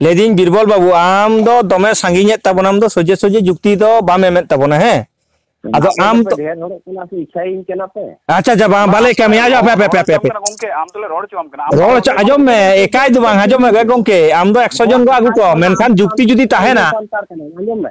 ᱞᱟᱹᱭ ᱫᱤᱧ ᱵᱤᱨᱵᱚᱞ ᱵᱟᱹᱵᱩ ᱟᱢ ᱫᱚ ᱫᱚᱢᱮ ᱥᱟᱺᱜᱤᱧ ᱮᱫ ᱛᱟᱵᱚᱱᱟ ᱟᱢ ᱫᱚ ᱥᱚᱡᱮ ᱥᱚᱡᱮ ᱡᱩᱠᱛᱤ ᱫᱚ ᱵᱟᱢ ᱮᱢᱮᱫ ᱛᱟᱵᱚᱱᱟ ᱦᱮᱸ ᱟᱫᱚ ᱟᱢ ᱛᱚ ᱰᱷᱮᱨ ᱦᱚᱲᱚᱜ ᱠᱟᱱᱟ ᱥᱮ ᱤᱪᱪᱷᱟᱭᱤᱧ ᱠᱟᱱᱟ ᱯᱮ ᱟᱪᱪᱷᱟ ᱟᱪᱪᱷᱟ ᱵᱟᱝ ᱵᱟᱞᱮ ᱠᱟᱹᱢᱤᱭᱟ ᱟᱡᱚ ᱯᱮ ᱯᱮ ᱯᱮ ᱯᱮ ᱜᱚᱝᱠᱮ ᱟᱢ ᱫᱚᱞᱮ ᱨᱚᱲ ᱦᱚᱪᱚᱣᱟᱢ ᱠᱟᱱᱟ ᱨᱚᱲ ᱦᱚᱪᱚ ᱟᱸᱡᱚᱢ ᱢᱮ ᱮᱠᱟᱭ ᱫᱚ ᱵᱟᱝ ᱟᱸᱡᱚᱢ ᱢᱮ ᱜᱚᱝᱠᱮ ᱟᱢ ᱫᱚ 100 ᱡᱚᱱ ᱠᱚ ᱟᱹᱜᱩ ᱠᱚ ᱢᱮᱱᱠᱷᱟᱱ ᱡᱩᱠᱛᱤ ᱡᱩᱫᱤ ᱛᱟᱦᱮᱱᱟ ᱟᱸᱡᱚᱢ ᱢᱮ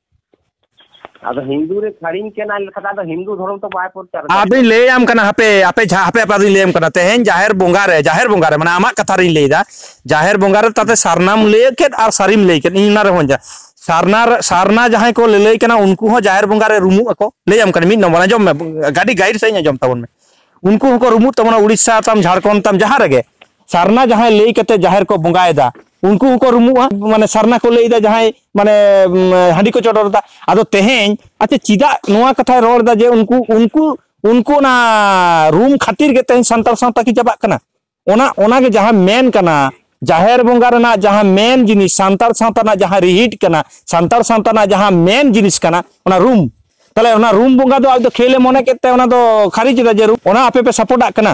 ᱟᱫᱚ ᱦᱤᱱᱫᱩ ᱨᱮ ᱥᱟᱹᱲᱤᱢ ᱠᱟᱱᱟ ᱞᱮᱠᱷᱟᱱ ᱟᱫᱚ ᱦᱤᱱᱫᱩ ᱫᱷᱚᱨᱚᱢ ᱛᱚ ᱵᱟᱭ ᱯᱨᱚᱪᱟᱨ ᱟᱫᱚᱧ ᱞᱟᱹᱭ ᱟᱢ ᱠᱟᱱᱟ ᱦᱟᱯᱮ ᱟᱯᱮ ᱡᱟᱦᱟᱸ ᱦᱟᱯᱮ ᱟᱯᱮ ᱟᱫᱚᱧ ᱞᱟᱹᱭ ᱟᱢ ᱠᱟᱱᱟ ᱛᱮᱦᱮᱧ ᱡᱟᱦᱮᱨ ᱵᱚᱸᱜᱟ ᱨᱮ ᱡᱟᱦᱮᱨ ᱵᱚᱸᱜᱟ ᱨᱮ ᱢᱟᱱᱮ ᱟᱢᱟᱜ ᱠᱟᱛᱷᱟ ᱨᱤᱧ ᱞᱟᱹᱭ ᱫᱟ ᱡᱟᱦᱮᱨ ᱵᱚᱸᱜᱟ ᱨᱮ ᱛᱟᱛᱮ ᱥᱟᱨᱱᱟᱢ ᱞᱟᱹᱭ ᱠᱮᱫ ᱟᱨ ᱥᱟᱹᱨᱤᱢ ᱞᱟᱹᱭ ᱠᱮᱫ ᱤᱧ ᱚᱱᱟ ᱨᱮᱦᱚᱸ ᱡᱟ ᱥᱟᱨᱱᱟ ᱥᱟᱨᱱᱟ ᱡᱟᱦᱟᱸᱭ ᱠᱚ ᱞᱟᱹᱞᱟᱹᱭ ᱠᱟᱱᱟ ᱩᱱᱠᱩ ᱦᱚᱸ ᱡᱟᱦᱮᱨ ᱵᱚᱸᱜᱟ ᱨᱮ ᱨᱩᱢᱩᱜ ᱟᱠᱚ ᱞᱟᱹᱭ ᱟᱢ ᱠᱟᱱᱟ ᱢᱤᱫ ᱱᱚᱢᱵᱚᱨ ᱟᱸᱡᱚᱢ ᱢᱮ ᱜᱟᱹᱰᱤ ᱜᱟᱭᱤᱰ ᱥᱟᱺᱦᱤᱡ ᱟᱸᱡᱚᱢ ᱛᱟᱵᱚᱱ ᱢᱮ ᱩᱱᱠᱩ ᱦᱚᱸᱠᱚ ᱨᱩᱢᱩᱜ ᱛᱟᱵᱚᱱᱟ ᱩᱲᱤᱥᱥᱟ ᱛᱟᱢ ᱡᱷᱟᱲᱠᱷᱚᱸᱰ ᱛᱟᱢ ᱡᱟᱦᱟᱸ ᱨᱮᱜᱮ ᱥᱟᱨᱱᱟ ᱡᱟᱦᱟᱸᱭ ᱞᱟᱹᱭ ᱠᱟᱛᱮ ᱡᱟᱦᱮᱨ ᱠᱚ ᱵᱚᱸᱜᱟᱭᱮᱫᱟ ᱩᱱᱠᱩ ᱦᱚᱸᱠᱚ ᱨᱩᱢᱩᱜᱼᱟ ᱢᱟᱱᱮ ᱥᱟᱨᱱᱟ ᱠᱚ ᱞᱟᱹᱭᱫᱟ ᱡᱟᱦᱟᱸᱭ ᱢᱟᱱᱮ ᱦᱟᱺᱰᱤ ᱠᱚ ᱪᱚᱰᱚᱨᱫᱟ ᱟᱫᱚ ᱛᱮᱦᱮᱧ ᱟᱪᱪᱷᱟ ᱪᱮᱫᱟᱜ ᱱᱚᱣᱟ ᱠᱟᱛᱷᱟᱭ ᱨᱚᱲᱫᱟ ᱡᱮ ᱩᱱᱠᱩ ᱩᱱᱠᱩ ᱩᱱᱠᱩ ᱚᱱᱟ ᱨᱩᱢ ᱠᱷᱟᱹᱛᱤᱨ ᱜᱮ ᱛᱮᱦᱮᱧ ᱥᱟᱱᱛᱟᱲ ᱥᱟᱶᱛᱟ ᱠᱤ ᱪᱟᱵᱟᱜ ᱠᱟᱱᱟ ᱚᱱᱟ ᱚᱱᱟᱜᱮ ᱡᱟᱦᱟᱸ ᱢᱮᱱ ᱠᱟᱱᱟ ᱡᱟᱦᱮᱨ ᱵᱚᱸᱜᱟ ᱨᱮᱱᱟᱜ ᱡᱟᱦᱟᱸ ᱢᱮᱱ ᱡᱤᱱᱤᱥ ᱥᱟᱱᱛᱟᱲ ᱥᱟᱶᱛᱟ ᱨᱮᱱᱟᱜ ᱡᱟᱦᱟᱸ ᱨᱤᱦᱤᱴ ᱠᱟᱱᱟ ᱥᱟᱱᱛᱟᱲ ᱥᱟᱶᱛᱟ ᱨᱮᱱᱟᱜ ᱡᱟᱦᱟᱸ ᱢᱮᱱ ᱡᱤᱱᱤᱥ ᱠᱟᱱᱟ ᱚᱱᱟ ᱨᱩᱢ ᱛᱟᱦᱞᱮ ᱚᱱᱟ ᱨᱩᱢ ᱵᱚᱸᱜᱟ ᱫᱚ ᱟᱡ ᱫᱚ ᱠᱷᱮᱞᱮ ᱢᱚᱱᱮ ᱠᱮᱫ ᱛᱮ ᱚᱱᱟ ᱫᱚ ᱠᱷᱟᱹᱨᱤᱡ ᱮᱫᱟ ᱡᱮ ᱚᱱᱟ ᱟᱯᱮ ᱯᱮ ᱥᱟᱯᱳᱨᱴᱟᱜ ᱠᱟᱱᱟ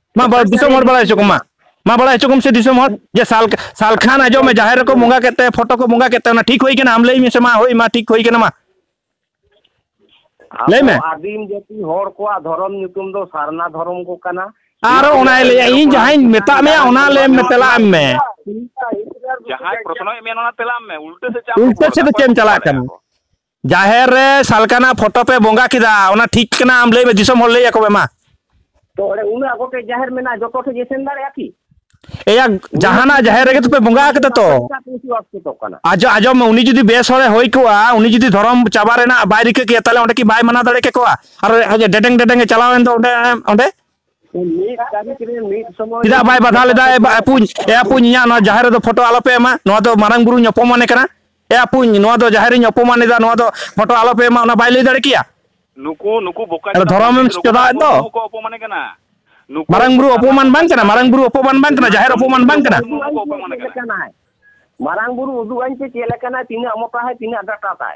ᱢᱟ ᱵᱟᱲᱟᱭ ᱫᱤᱥᱚᱢ ᱦᱚᱲ ᱵᱟᱲᱟᱭ ᱦᱚᱪᱚ ᱠᱚᱢᱟ ᱢᱟ ᱵᱟᱲᱟᱭ ᱦᱚᱪᱚ ᱠᱚᱢ ᱥᱮ ᱫᱤᱥᱚᱢ ᱦᱚᱲ ᱡᱮ ᱥᱟᱞ ᱥᱟᱞ ᱠᱷᱟᱱ ᱟᱸᱡᱚᱢ ᱢᱮ ᱡᱟᱦᱮᱨ ᱨᱮᱠᱚ ᱵᱚᱸᱜᱟ ᱠᱮᱫ ᱛᱮ ᱯᱷᱳᱴᱳ ᱠᱚ ᱵᱚᱸᱜᱟ ᱠᱮᱫ ᱛᱮ ᱚᱱᱟ ᱴᱷᱤᱠ ᱦᱩᱭ ᱠᱟᱱᱟ ᱟᱢ ᱞᱟᱹᱭ ᱢᱮᱥᱮ ᱢᱟ ᱦᱳᱭ ᱢᱟ ᱴᱷᱤᱠ ᱦᱩᱭ ᱠᱟᱱᱟ ᱢᱟ ᱞᱟᱹᱭ ᱢᱮ ᱟᱹᱫᱤᱢ ᱡᱟᱹᱛᱤ ᱦᱚᱲ ᱠᱚᱣᱟᱜ ᱫᱷᱚᱨᱚᱢ ᱧᱩᱛᱩᱢ ᱫᱚ ᱥᱟᱨᱱᱟ ᱫᱷᱚᱨᱚᱢ ᱠᱚ ᱠᱟᱱᱟ ᱟᱨ ᱚᱱᱟᱭ ᱞᱟᱹᱭᱟ ᱤᱧ ᱡᱟᱦᱟᱸᱧ ᱢᱮᱛᱟᱜ ᱢᱮᱭᱟ ᱚᱱᱟ ᱞᱟᱹᱭ ᱢᱮ ᱛᱮᱞᱟ ᱮᱢ ᱢᱮ ᱡᱟᱦᱟᱸᱭ ᱯᱨᱚᱥᱱᱚᱭ ᱢᱮ ᱚᱱᱟ ᱛᱮᱞᱟ ᱮᱢ ᱢᱮ ᱩᱞᱴᱟᱹ ᱥᱮᱫ ᱪᱟᱜ ᱩᱞᱴᱟᱹ ᱥᱮᱫ ᱪᱮᱫ ᱮᱢ ᱪᱟᱞᱟᱜ ᱠᱟᱱᱟ ᱡᱟᱦᱮᱨ ᱨᱮ ᱥᱟᱞᱠᱟᱱᱟᱜ ᱯᱷᱳᱴᱳ ᱯᱮ ᱵᱚᱸᱜᱟ ᱠᱮᱫᱟ ᱚᱱᱟ ᱴᱷᱤᱠ ᱠᱟᱱᱟ ᱟᱢ ᱞᱟᱹᱭ ᱢᱮ ᱫᱤᱥᱚᱢ ᱦᱚᱲ ᱞᱟᱹᱭ ᱟᱠᱚ ᱢᱮ ᱢᱟ ᱛᱚ ᱚᱸᱰᱮ ᱩᱱᱟᱹᱜ ᱟᱵᱚ ᱴᱷᱮᱡ ᱡᱟᱦᱮᱨ ᱢᱮᱱᱟᱜᱼᱟ ᱡᱚᱛᱚ ᱴᱷᱮᱡ ᱜᱮ ᱥᱮᱱ ᱫᱟᱲᱮᱭᱟᱜᱼᱟ ᱠᱤ ᱮᱭᱟ ᱡᱟᱦᱟᱱᱟᱜ ᱡᱟᱦᱮᱨ ᱨᱮᱜᱮ ᱛᱚᱯᱮ ᱵᱚᱸᱜᱟ ᱟᱠᱟᱫᱟ ᱛᱚ ᱟᱡᱚ ᱟᱡᱚᱢ ᱢᱮ ᱩᱱᱤ ᱡᱩᱫᱤ ᱵᱮᱥ ᱦᱚᱲᱮ ᱦᱩᱭ ᱠᱚᱜᱼᱟ ᱩᱱᱤ ᱡᱩᱫᱤ ᱫᱷᱚᱨᱚᱢ ᱪᱟᱵᱟ ᱨᱮᱱᱟᱜ ᱵᱟᱭ ᱨᱤᱠᱟᱹ ᱠᱮᱭᱟ ᱛᱟᱦᱞᱮ ᱚᱸᱰᱮ ᱠᱤ ᱵᱟᱭ ᱢᱟᱱᱟᱣ ᱫᱟᱲᱮ ᱠᱮᱠᱚᱣᱟ ᱟᱨ ᱰᱮᱰᱮᱝ ᱰᱮᱰᱮᱝ ᱮ ᱪᱟᱞᱟᱣᱮᱱ ᱫᱚ ᱚᱸᱰᱮ ᱚᱸᱰᱮ ᱪᱮᱫᱟᱜ ᱵᱟᱭ ᱵᱟᱫᱷᱟ ᱞᱮᱫᱟ ᱮ ᱟᱯᱩᱧ ᱮ ᱟᱯᱩᱧ ᱤᱧᱟᱹᱜ ᱱᱚᱣᱟ ᱡᱟᱦᱮᱨ ᱨᱮᱫᱚ ᱯᱷᱳᱴᱳ ᱟᱞᱚᱯᱮ ᱮᱢᱟ ᱱᱚᱣᱟ ᱫᱚ ᱢᱟᱨᱟᱝ ᱵᱩᱨᱩᱧ ᱚᱯᱚᱢᱟᱱᱮ ᱠᱟᱱᱟ ᱮ ᱟᱯᱩᱧ ᱱᱚᱣᱟ ᱫᱚ ᱡᱟᱦᱮᱨᱤᱧ ᱚᱯᱚᱢᱟᱱ ᱮᱫᱟ ᱱᱚᱣᱟ ᱫᱚ ᱯᱷᱳᱴᱳ ᱟᱞᱚᱯᱮ ᱮᱢᱟ ᱚᱱᱟ ᱵᱟᱭ ᱞᱟᱹᱭ ᱫᱟᱲᱮ ᱠᱮᱭᱟ ᱱᱩᱠᱩ ᱱᱩᱠᱩ ᱵᱚᱠᱟ ᱫᱷᱚᱨᱚᱢᱮᱢ ᱪᱚᱫᱟᱣᱮᱫ ᱫᱚ ᱱᱩᱠᱩ ᱚᱯᱚᱢᱟᱱᱮ ᱠᱟᱱᱟ ᱢᱟᱨᱟᱝ ᱵᱩᱨᱩ ᱚᱯᱚᱢᱟᱱ ᱵᱟᱝ ᱠᱟᱱᱟ ᱢᱟᱨᱟᱝ ᱵᱩᱨᱩ ᱚᱯᱚᱢᱟᱱ ᱵᱟᱝ ᱠᱟᱱᱟ ᱡᱟᱦᱮᱨ ᱚᱯᱚᱢᱟᱱ ᱵᱟᱝ ᱠᱟᱱᱟ ᱢᱟᱨᱟᱝ ᱵᱩᱨᱩ ᱩᱫᱩᱜ ᱟᱹᱧ ᱯᱮ ᱪᱮᱫ ᱞᱮᱠᱟᱱᱟ ᱛᱤᱱᱟᱹᱜ ᱢᱚᱴᱟ ᱦᱟᱭ ᱛᱤᱱᱟᱹᱜ ᱰᱟᱴᱟ ᱛᱟᱭ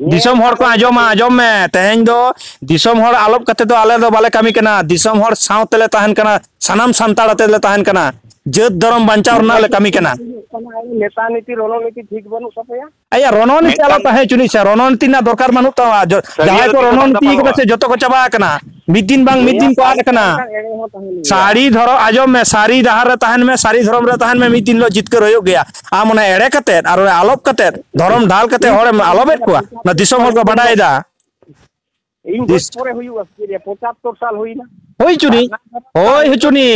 ᱫᱤᱥᱚᱢ ᱦᱚᱲ ᱠᱚ ᱟᱸᱡᱚᱢᱟ ᱟᱸᱡᱚᱢ ᱢᱮ ᱛᱮᱦᱮᱧ ᱫᱚ ᱫᱤᱥᱚᱢ ᱦᱚᱲ ᱟᱞᱚᱯ ᱠᱟᱛᱮ ᱫᱚ ᱟᱞᱮ ᱫᱚ ᱵᱟᱞᱮ ᱠᱟᱹᱢᱤ ᱠᱟᱱᱟ ᱫᱤᱥᱚᱢ ᱦᱚᱲ ᱥᱟᱶ ᱛᱮᱞᱮ ᱛᱟᱦᱮᱱ ᱠᱟᱱᱟ ᱥᱟᱱᱟᱢ ᱥᱟᱱᱛᱟᱲ ᱟᱛᱮ ᱞᱮ ᱛᱟᱦᱮᱱ ᱠᱟᱱᱟ ᱡᱟᱹᱛ ᱫᱷᱚᱨᱚᱢ ᱵᱟᱧᱪᱟᱣ ᱨᱮᱱᱟᱜ ᱞᱮ ᱠᱟᱹᱢᱤ ᱠᱟᱱᱟ ᱱᱮᱛᱟ ᱱᱤᱛᱤ ᱨᱚᱱᱚ ᱱᱤᱛᱤ ᱴᱷᱤᱠ ᱵᱟᱹᱱᱩᱜ ᱛᱟᱯᱮᱭᱟ ᱟᱭᱟ ᱨᱚᱱᱚ ᱱᱤᱛᱤ ᱟᱞᱚ ᱛᱟᱦᱮᱸ ᱪᱩᱱᱤ ᱥᱮ ᱨᱚᱱᱚ ᱱᱤᱛᱤ ᱨᱮᱱᱟᱜ ᱫᱚᱨᱠᱟᱨ ᱵᱟᱹᱱᱩᱜ ᱛᱟᱢᱟ ᱡᱟᱦᱟᱸᱭ ᱠᱚ ᱨᱚᱱᱚ ᱱᱤᱛᱤ ᱠᱟᱫᱟ ᱥᱮ ᱡᱚᱛᱚ ᱠᱚ ᱪᱟᱵᱟ ᱟᱠᱟᱱᱟ ᱢᱤᱫ ᱫᱤᱱ ᱵᱟᱝ ᱢᱤᱫ ᱫᱤᱱ ᱠᱚ ᱟᱫ ᱟᱠᱟᱱᱟ ᱥᱟᱹᱨᱤ ᱫᱷᱚᱨᱚᱢ ᱟᱸᱡᱚᱢ ᱢᱮ ᱥᱟᱹᱨᱤ ᱰᱟᱦᱟᱨ ᱨᱮ ᱛᱟᱦᱮᱱ ᱢᱮ ᱥᱟᱹᱨᱤ ᱫᱷᱚᱨᱚᱢ ᱨᱮ ᱛᱟᱦᱮᱱ ᱢᱮ ᱢᱤᱫ ᱫᱤᱱ ᱦᱤᱞᱳᱜ ᱡᱤᱛᱠᱟᱹᱨ ᱦᱩᱭᱩᱜ ᱜᱮᱭᱟ ᱟᱢ ᱚᱱᱟ ᱮᱲᱮ ᱠᱟᱛᱮᱫ ᱟᱨ ᱚᱱᱟ ᱟᱞᱚᱯ ᱠᱟᱛᱮᱫ ᱫᱷᱚᱨᱚᱢ ᱰᱟᱞ ᱠᱟᱛᱮᱫ ᱦᱚᱲᱮᱢ ᱟᱞᱚᱯᱮᱫ ᱠᱚᱣᱟ ᱚᱱᱟ ᱫᱤᱥᱚᱢ ᱦᱚᱲ ᱠᱚ ᱵᱟᱰᱟᱭᱮᱫᱟ ᱤᱧ ᱜᱚᱡ ᱯᱚᱨᱮ ᱦᱩᱭᱩᱜᱼᱟ ᱯᱚᱸᱪᱟᱛᱛᱚᱨ ᱥᱟᱞ ᱦᱩᱭᱱᱟ ᱦᱩᱭ ᱪᱩᱱᱤ ᱦᱳᱭ ᱦᱚᱪᱚᱱᱤ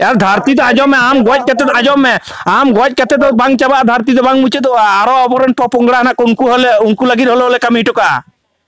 ᱟᱨ ᱫᱷᱟᱹᱨᱛᱤ ᱫᱚ ᱟᱸᱡᱚᱢ ᱢᱮ ᱟᱢ ᱜᱚᱡ ᱠᱟᱛᱮ ᱫᱚ ᱟᱸᱡᱚᱢ ᱢᱮ ᱟᱢ ᱜᱚᱡ ᱠᱟᱛᱮ ᱫᱚ ᱵᱟᱝ ᱪᱟᱵᱟᱜᱼᱟ ᱫᱷᱟᱹᱨᱛᱤ ᱫᱚ ᱵᱟᱝ ᱢᱩᱪᱟᱹᱫᱚᱜᱼᱟ ᱟᱨᱚ ᱟᱵᱚᱨᱮᱱ ᱯᱚᱯᱚᱝᱲᱟ ᱦᱮᱱᱟᱜ ᱠᱚ ᱩᱱᱠᱩ ᱦᱚᱸᱞᱮ ᱩᱱᱠᱩ ᱞᱟᱹᱜᱤᱫ ᱦᱚᱞᱮ ᱠᱟᱹᱢᱤ ᱦᱚᱴᱚ ᱠᱟᱜᱼᱟ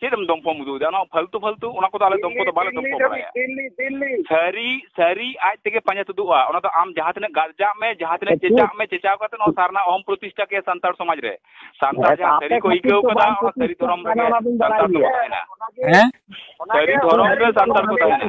ᱪᱮᱫ ᱮᱢ ᱫᱚᱢᱯᱚᱢ ᱩᱫᱩᱜ ᱮᱫᱟ ᱚᱱᱟ ᱯᱷᱟᱞᱛᱩ ᱯᱷᱟᱞᱛᱩ ᱚᱱᱟ ᱠᱚᱫᱚ ᱟᱞᱮ ᱫᱚᱢᱯᱚ ᱫᱚ ᱵᱟᱞᱮ ᱫᱚᱢᱯᱚ ᱵᱟᱲᱟᱭᱟ ᱫᱤᱞᱞᱤ ᱫᱤᱞᱞᱤ ᱥᱟᱹᱨᱤ ᱥᱟᱹᱨᱤ ᱟᱡ ᱛᱮᱜᱮ ᱯᱟᱸᱡᱟ ᱛᱩᱫᱩᱜᱼᱟ ᱚᱱᱟ ᱫᱚ ᱟᱢ ᱡᱟᱦᱟᱸ ᱛᱤᱱᱟᱹᱜ ᱜᱟᱨᱡᱟᱜ ᱢᱮ ᱡᱟᱦᱟᱸ ᱛᱤᱱᱟᱹᱜ ᱪᱮᱪᱟᱜ ᱢᱮ ᱪᱮᱪᱟᱣ ᱠᱟᱛᱮ ᱱᱚᱣᱟ ᱥᱟᱨᱱᱟ ᱚᱦᱚᱢ ᱯᱨᱚᱛᱤᱥᱴᱷᱟ ᱠᱮ ᱥᱟᱱᱛᱟᱲ ᱥᱚᱢᱟᱡᱽ ᱨᱮ ᱥᱟᱱᱛᱟᱲ ᱡᱟᱦᱟᱸ ᱥᱟᱹᱨᱤ ᱠᱚ ᱟᱹᱭᱠᱟᱹᱣ ᱠᱟᱫᱟ ᱚᱱᱟ ᱥᱟᱹᱨᱤ ᱫᱷᱚᱨᱚᱢ ᱨᱮᱜᱮ ᱥᱟᱱᱛᱟᱲ ᱫᱚ ᱛᱟᱦᱮᱱᱟ ᱦᱮᱸ ᱥᱟᱹᱨᱤ ᱫᱷᱚᱨᱚᱢ ᱨᱮ ᱥᱟᱱᱛᱟᱲ ᱠᱚ ᱛᱟᱦᱮᱱᱟ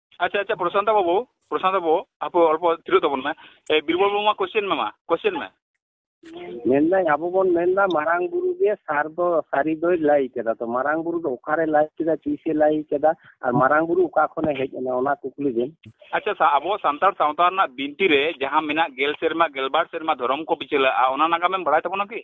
ᱟᱪᱪᱷᱟ ᱟᱪᱪᱷᱟ ᱯᱨᱚᱥᱟᱱᱛᱟ ᱵᱟᱹᱵᱩ ᱯᱨᱚᱥᱟᱱᱛᱟ ᱵᱟᱹᱵᱩ ᱟᱯᱮ ᱚᱞᱯᱚ ᱛᱷᱤᱨᱚᱜ ᱛᱟᱵᱚᱱ ᱢᱮ ᱵᱤᱨᱵᱚᱞ ᱵᱟᱹᱵᱩ ᱢᱟ ᱠᱚᱥᱪᱮᱱ ᱢᱮ ᱢᱟ ᱠᱚᱥᱪᱮᱱ ᱢᱮ ᱢᱮᱱᱫᱟᱹᱧ ᱟᱵᱚ ᱵᱚᱱ ᱢᱮᱱᱫᱟ ᱢᱟᱨᱟᱝ ᱵᱩᱨᱩ ᱜᱮ ᱥᱟᱨ ᱫᱚ ᱥᱟᱹᱨᱤ ᱫᱚᱭ ᱞᱟᱹᱭ ᱠᱮᱫᱟ ᱛᱚ ᱢᱟᱨᱟᱝ ᱵᱩᱨᱩ ᱫᱚ ᱚᱠᱟᱨᱮ ᱞᱟᱹᱭ ᱠᱮᱫᱟ ᱛᱤᱥᱮ ᱞᱟᱹᱭ ᱠᱮᱫᱟ ᱟᱨ ᱢᱟᱨᱟᱝ ᱵᱩᱨᱩ ᱚᱠᱟ ᱠᱷᱚᱱᱮ ᱦᱮᱡ ᱮᱱᱟ ᱚᱱᱟ ᱠᱩᱠᱞᱤ ᱵᱮᱱ ᱟᱪᱪᱷᱟ ᱟᱵᱚ ᱥᱟᱱᱛᱟᱲ ᱥᱟᱶᱛᱟ ᱨᱮᱱᱟᱜ ᱵᱤᱱᱛᱤ ᱨᱮ ᱡᱟᱦᱟᱸ ᱢᱮᱱᱟᱜ ᱜᱮᱞ ᱥᱮᱨᱢᱟ ᱜᱮᱞᱵᱟᱨ ᱥᱮᱨᱢᱟ ᱫᱷᱚᱨᱚᱢ ᱠᱚ ᱵᱤᱪᱟᱹᱞᱟᱜᱼᱟ ᱚᱱᱟ ᱱᱟᱜᱟᱢᱮᱢ ᱵᱟᱲᱟᱭ ᱛᱟᱵᱚᱱᱟ ᱠᱤ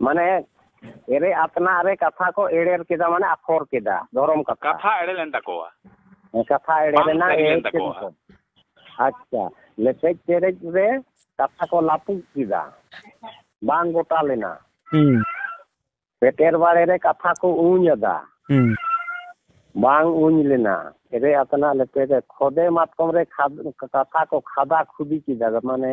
ᱢᱟᱱᱮ ᱮᱨᱮ ᱟᱛᱱᱟᱜ ᱨᱮ ᱠᱟᱛᱷᱟ ᱠᱚ ᱮᱲᱮᱨ ᱠᱮᱫᱟ ᱢᱟᱱᱮ ᱟᱠᱷᱚᱨ ᱠᱮᱫᱟ ᱫᱷᱚᱨᱚᱢ ᱠᱟᱛᱷᱟ ᱠᱟᱛᱷᱟ ᱮᱲᱮ ᱞᱮᱱ ᱛᱟᱠᱚᱣᱟ ᱠᱟᱛᱷᱟ ᱮᱲᱮ ᱞᱮᱱᱟ ᱮᱲᱮ ᱛᱟᱠᱚᱣᱟ ᱟᱪᱪᱷᱟ ᱞᱮᱯᱮᱡ ᱪᱮᱨᱮᱡ ᱨᱮ ᱠᱟᱛᱷᱟ ᱠᱚ ᱞᱟᱹᱯᱩᱜ ᱠᱮᱫᱟ ᱵᱟᱝ ᱜᱚᱴᱟ ᱞᱮᱱᱟ ᱯᱮᱴᱮᱨ ᱵᱟᱲᱮ ᱨᱮ ᱠᱟᱛᱷᱟ ᱠᱚ ᱩᱧ ᱟᱫᱟ ᱵᱟᱝ ᱩᱧ ᱞᱮᱱᱟ ᱮᱨᱮ ᱟᱛᱱᱟᱜ ᱞᱮᱯᱮᱡ ᱨᱮ ᱠᱷᱚᱫᱮ ᱢᱟᱛᱠᱚᱢ ᱨᱮ ᱠᱟᱛᱷᱟ ᱠᱚ ᱠᱷᱟᱫᱟ ᱠᱷᱩᱫᱤ ᱠᱮᱫᱟ ᱢᱟᱱᱮ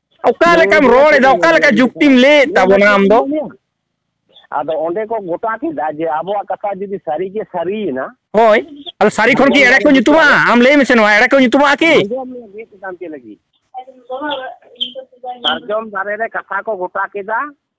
ᱚᱠᱟ ᱞᱮᱠᱟᱢ ᱨᱚᱲ ᱮᱫᱟ ᱚᱠᱟ ᱞᱮᱠᱟ ᱡᱩᱠᱛᱤᱢ ᱞᱟᱹᱭᱮᱫ ᱛᱟᱵᱚᱱᱟ ᱟᱢ ᱫᱚ ᱟᱫᱚ ᱚᱸᱰᱮ ᱠᱚ ᱜᱚᱴᱟ ᱠᱮᱫᱟ ᱡᱮ ᱟᱵᱚᱣᱟᱜ ᱠᱟᱛᱷᱟ ᱡᱩᱫᱤ ᱥᱟᱹᱨᱤ ᱜᱮ ᱥᱟᱹᱨᱤᱭᱮᱱᱟ ᱦᱳᱭ ᱟᱫᱚ ᱥᱟᱹᱨᱤ ᱠᱷᱚᱱ ᱠᱤ ᱮᱲᱮ ᱠᱚ ᱧᱩᱛᱩᱢᱟ ᱟᱢ ᱞᱟᱹᱭ ᱢᱮᱥᱮ ᱱᱚᱣᱟ ᱮᱲᱮ ᱠᱚ ᱧᱩᱛᱩᱢᱟ ᱠᱤ ᱥᱟᱨᱡᱚᱢ ᱫᱟᱨᱮ ᱨᱮ ᱠᱟᱛᱷᱟ ᱠᱚ ᱜᱚᱴᱟ ᱠᱮᱫᱟ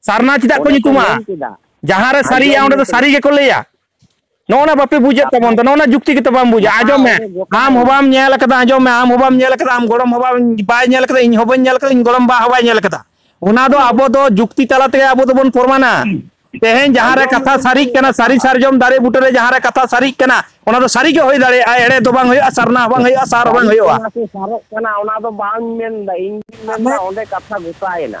ᱥᱟᱨᱱᱟ ᱪᱮᱫᱟᱜ ᱠᱚ ᱧᱩᱛᱩᱢᱟ ᱡᱟᱦᱟᱸ ᱨᱮ ᱥᱟᱹᱨᱤᱭᱟ ᱚᱸᱰᱮ ᱫᱚ ᱥᱟᱹᱨᱤ ᱜᱮᱠᱚ ᱞᱟᱹᱭᱟ ᱱᱚᱜᱼᱚ ᱱᱟ ᱵᱟᱯᱮ ᱵᱩᱡᱮᱫ ᱛᱟᱵᱚᱱ ᱫᱚ ᱱᱚᱜᱼᱚ ᱱᱟ ᱡᱩᱠᱛᱤ ᱜᱮᱛᱚ ᱵᱟᱢ ᱵᱩᱡᱟ ᱟᱸᱡᱚᱢ ᱢᱮ ᱟᱢ ᱦᱚᱸ ᱵᱟᱢ ᱧᱮᱞ ᱟᱠᱟᱫᱟ ᱟᱸᱡᱚᱢ ᱢᱮ ᱟᱢ ᱦᱚᱸ ᱵᱟᱢ ᱧᱮᱞ ᱟᱠᱟᱫᱟ ᱟᱢ ᱜᱚᱲᱚᱢ ᱦᱚᱸ ᱵᱟᱢ ᱵᱟᱭ ᱧᱮᱞ ᱟᱠᱟᱫᱟ ᱤᱧ ᱦᱚᱸ ᱵᱟᱹᱧ ᱧᱮᱞ ᱟᱠᱟᱫᱟ ᱤᱧ ᱜᱚᱲᱚᱢ ᱵᱟ ᱦᱚᱸ ᱵᱟᱭ ᱧᱮᱞ ᱟᱠᱟᱫᱟ ᱚᱱᱟ ᱫᱚ ᱟᱵᱚ ᱫᱚ ᱡᱩᱠᱛᱤ ᱛᱟᱞᱟ ᱛᱮᱜᱮ ᱟᱵᱚ ᱫᱚᱵᱚᱱ ᱯᱨᱚᱢᱟᱱᱟ ᱛᱮᱦᱮᱧ ᱡᱟᱦᱟᱸ ᱨᱮ ᱠᱟᱛᱷᱟ ᱥᱟᱹᱨᱤᱜ ᱠᱟᱱᱟ ᱥᱟᱹᱨᱤ ᱥᱟᱨᱡᱚᱢ ᱫᱟᱨᱮ ᱵᱩᱴᱟᱹ ᱨᱮ ᱡᱟᱦᱟᱸ ᱨᱮ ᱠᱟᱛᱷᱟ ᱥᱟᱹᱨᱤᱜ ᱠᱟᱱᱟ ᱚᱱᱟ ᱫᱚ ᱥᱟᱹᱨᱤ ᱜᱮ ᱦᱩᱭ ᱫᱟᱲᱮᱭᱟᱜᱼᱟ ᱮᱲᱮ ᱫᱚ ᱵᱟᱝ ᱦᱩᱭᱩᱜᱼᱟ ᱥᱟᱨᱱᱟ ᱦᱚᱸ ᱵᱟᱝ ᱦᱩᱭᱩᱜᱼᱟ ᱥᱟᱨ ᱦᱚᱸ ᱵᱟᱝ ᱦᱩᱭᱩᱜᱼᱟ ᱥᱟᱨᱚᱜ ᱠᱟᱱᱟ ᱚᱱᱟ ᱫᱚ ᱵᱟᱝ ᱢᱮᱱᱫᱟ ᱤᱧ ᱢᱮᱱᱫᱟ ᱚᱸᱰᱮ ᱠᱟᱛᱷᱟ ᱜᱚᱴᱟᱭᱮᱱᱟ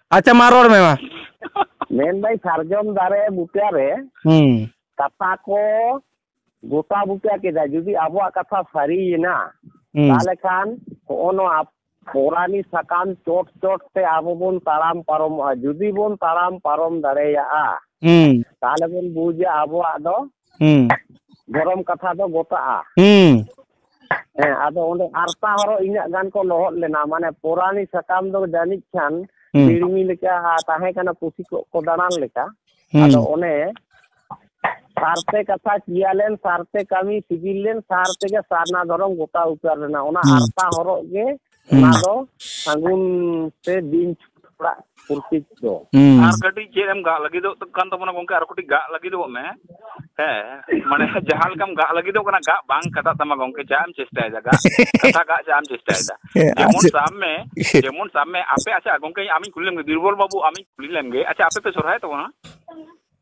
ᱟᱪᱪᱷᱟ ᱢᱟ ᱨᱚᱲ ᱢᱮ ᱢᱟ ᱢᱮᱱᱫᱟᱹᱧ ᱥᱟᱨᱡᱚᱢ ᱫᱟᱨᱮ ᱵᱩᱴᱟᱹ ᱨᱮ ᱠᱟᱛᱷᱟ ᱠᱚ ᱜᱚᱴᱟ ᱵᱩᱴᱟᱹ ᱠᱮᱫᱟ ᱡᱩᱫᱤ ᱟᱵᱚᱣᱟᱜ ᱠᱟᱛᱷᱟ ᱥᱟᱹᱨᱤᱭᱮᱱᱟ ᱛᱟᱦᱚᱞᱮ ᱠᱷᱟᱱ ᱦᱚᱜᱼᱚ ᱱᱚᱣᱟ ᱯᱚᱨᱟᱱᱤ ᱥᱟᱠᱟᱢ ᱪᱚᱴ ᱪᱚᱴ ᱛᱮ ᱟᱵᱚ ᱵᱚᱱ ᱛᱟᱲᱟᱢ ᱯᱟᱨᱚᱢᱚᱜᱼᱟ ᱡᱩᱫᱤ ᱵᱚᱱ ᱛᱟᱲᱟᱢ ᱯᱟᱨᱚᱢ ᱫᱟᱲᱮᱭᱟᱜᱼᱟ ᱛᱟᱦᱚᱞᱮ ᱵᱚᱱ ᱵᱩᱡᱟ ᱟᱵᱚᱣᱟᱜ ᱫᱚ ᱫᱷᱚᱨᱚᱢ ᱠᱟᱛᱷᱟ ᱫᱚ ᱜᱚᱴᱟᱜᱼᱟ ᱦᱮᱸ ᱟᱫᱚ ᱚᱸᱰᱮ ᱟᱨᱯᱟ ᱦᱚᱨᱚᱜ ᱤᱱᱟᱹᱜ ᱜᱟᱱ ᱠᱚ ᱞᱚᱦᱚᱫ ᱞᱮᱱᱟ ᱢᱟᱱᱮ ᱯᱳᱨᱟᱱᱤ ᱥᱟᱠᱟᱢ ᱫᱚ ᱡᱟᱹᱱᱤᱡ ᱠᱷᱟᱱ ᱵᱤᱲᱢᱤ ᱞᱮᱠᱟ ᱛᱟᱦᱮᱸ ᱠᱟᱱᱟ ᱯᱩᱥᱤ ᱠᱚ ᱠᱚ ᱫᱟᱬᱟᱱ ᱞᱮᱠᱟ ᱟᱫᱚ ᱚᱱᱮ ᱥᱟᱨᱛᱮ ᱠᱟᱛᱷᱟ ᱪᱤᱭᱟ ᱞᱮᱱ ᱥᱟᱨᱛᱮ ᱠᱟᱹᱢᱤ ᱥᱤᱜᱤᱞ ᱞᱮᱱ ᱥᱟᱨ ᱛᱮᱜᱮ ᱥᱟᱨᱱᱟ ᱫᱷᱚᱨᱚᱢ ᱜᱚᱴᱟ ᱩᱛᱟᱹᱨ ᱞᱮᱱᱟ ᱚᱱᱟ ᱟᱨᱯᱟ ᱦᱚᱨᱚᱜ ᱜᱮ ᱦᱩᱸ ᱚᱱᱟ ᱫᱚ ᱥᱟᱹᱜᱩᱱ ᱥᱮ ᱵᱤᱧ ᱪᱷᱩᱴ ᱚᱲᱟᱜ ᱯᱨᱚᱛᱤᱠ ᱫᱚ ᱦᱩᱸ ᱟᱨ ᱠᱟᱹᱴᱤᱡ ᱪᱮᱫ ᱮᱢ ᱜᱟᱜ ᱞᱟᱹᱜᱤᱫᱚᱜ ᱠᱟᱱ ᱛᱟᱵᱚᱱᱟ ᱜᱚᱝᱠᱮ ᱟᱨ ᱠᱟᱹᱴᱤᱡ ᱜᱟᱜ ᱞᱟᱹᱜᱤᱫᱚᱜ ᱢᱮ ᱦᱮᱸ ᱢᱟᱱᱮ ᱡᱟᱦᱟᱸ ᱞᱮᱠᱟᱢ ᱜᱟᱜ ᱞᱟᱹᱜᱤᱫᱚᱜ ᱠᱟᱱᱟ ᱜᱟᱜ ᱵᱟᱝ ᱠᱟᱴᱟᱜ ᱛᱟᱢᱟ ᱜᱚᱝᱠᱮ ᱪᱟᱜ ᱮᱢ ᱪᱮᱥᱴᱟᱭᱮᱫᱟ ᱜᱟᱜ ᱠᱟᱛᱷᱟ ᱜᱟᱜ ᱪᱟᱜ ᱮᱢ ᱪᱮᱥᱴᱟᱭᱮᱫᱟ ᱦᱮᱸ ᱟᱨ ᱡᱮᱢᱚᱱ ᱪᱮᱫ ᱥᱟᱵ ᱢᱮ ᱡᱮᱢᱚᱱ ᱥᱟᱵ ᱢᱮ ᱟᱯᱮ ᱟᱪᱪᱷᱟ ᱜᱚᱝᱠᱮ ᱟᱢᱤᱧ ᱠᱩᱞᱤ ᱞᱮᱢᱜᱮ ᱵᱤᱨᱵᱚᱞ ᱵᱟᱹᱵᱩ ᱟᱢᱤᱧ ᱠᱩᱞᱤ ᱞᱮᱢᱜᱮ ᱟᱪᱪᱷᱟ ᱟᱯᱮ ᱯᱮ ᱥᱚᱨᱦᱟᱭᱚᱜ ᱛᱟᱵᱚᱱᱟ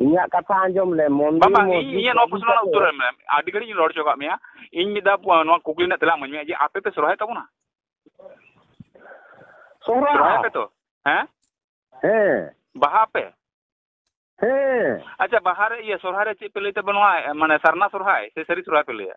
ᱤᱧᱟᱹᱜ ᱠᱟᱛᱷᱟ ᱟᱸᱡᱚᱢ ᱞᱮ ᱢᱚᱱᱫᱤᱨ ᱵᱟᱝ ᱵᱟᱝ ᱤᱧ ᱤᱧᱟᱹᱜ ᱱᱚᱣᱟ ᱯᱨᱚᱥᱱᱚ ᱨᱮᱱᱟᱜ ᱩᱛᱛᱚᱨ ᱮᱢ ᱢᱮ ᱟᱹᱰᱤ ᱜᱷᱟᱹᱲᱤᱡ ᱤᱧ ᱨᱚᱲ ᱦᱚᱪᱚ ᱠᱟᱜ ᱢᱮᱭᱟ ᱤᱧ ᱢᱤᱫ ᱫᱷᱟᱣ ᱱᱚᱣᱟ ᱠᱩᱠᱞᱤ ᱨᱮᱱᱟᱜ ᱛᱮᱞᱟ ᱤᱢᱟᱹᱧ ᱢᱮ ᱡᱮ ᱟᱯᱮ ᱯᱮ ᱥᱚᱨᱦᱟᱭ ᱛᱟᱵᱚᱱᱟ ᱥᱚᱨᱦᱟᱭ ᱯᱮ ᱛᱚ ᱦᱮᱸ ᱦᱮᱸ ᱵᱟᱦᱟ ᱯᱮ ᱦᱮᱸ ᱟᱪᱪᱷᱟ ᱵᱟᱦᱟ ᱨᱮ ᱤᱭᱟᱹ ᱥᱚᱨᱦᱟᱭ ᱨᱮ ᱪᱮᱫ ᱯᱮ ᱞᱟᱹᱭ ᱛᱟᱵᱚᱱᱟ ᱢᱟᱱᱮ ᱥᱟᱨᱱᱟ ᱥᱚᱨᱦᱟᱭ ᱥᱮ ᱥᱟᱹᱨᱤ ᱥᱚᱨᱦᱟᱭ ᱯᱮ ᱞᱟᱹᱭᱟ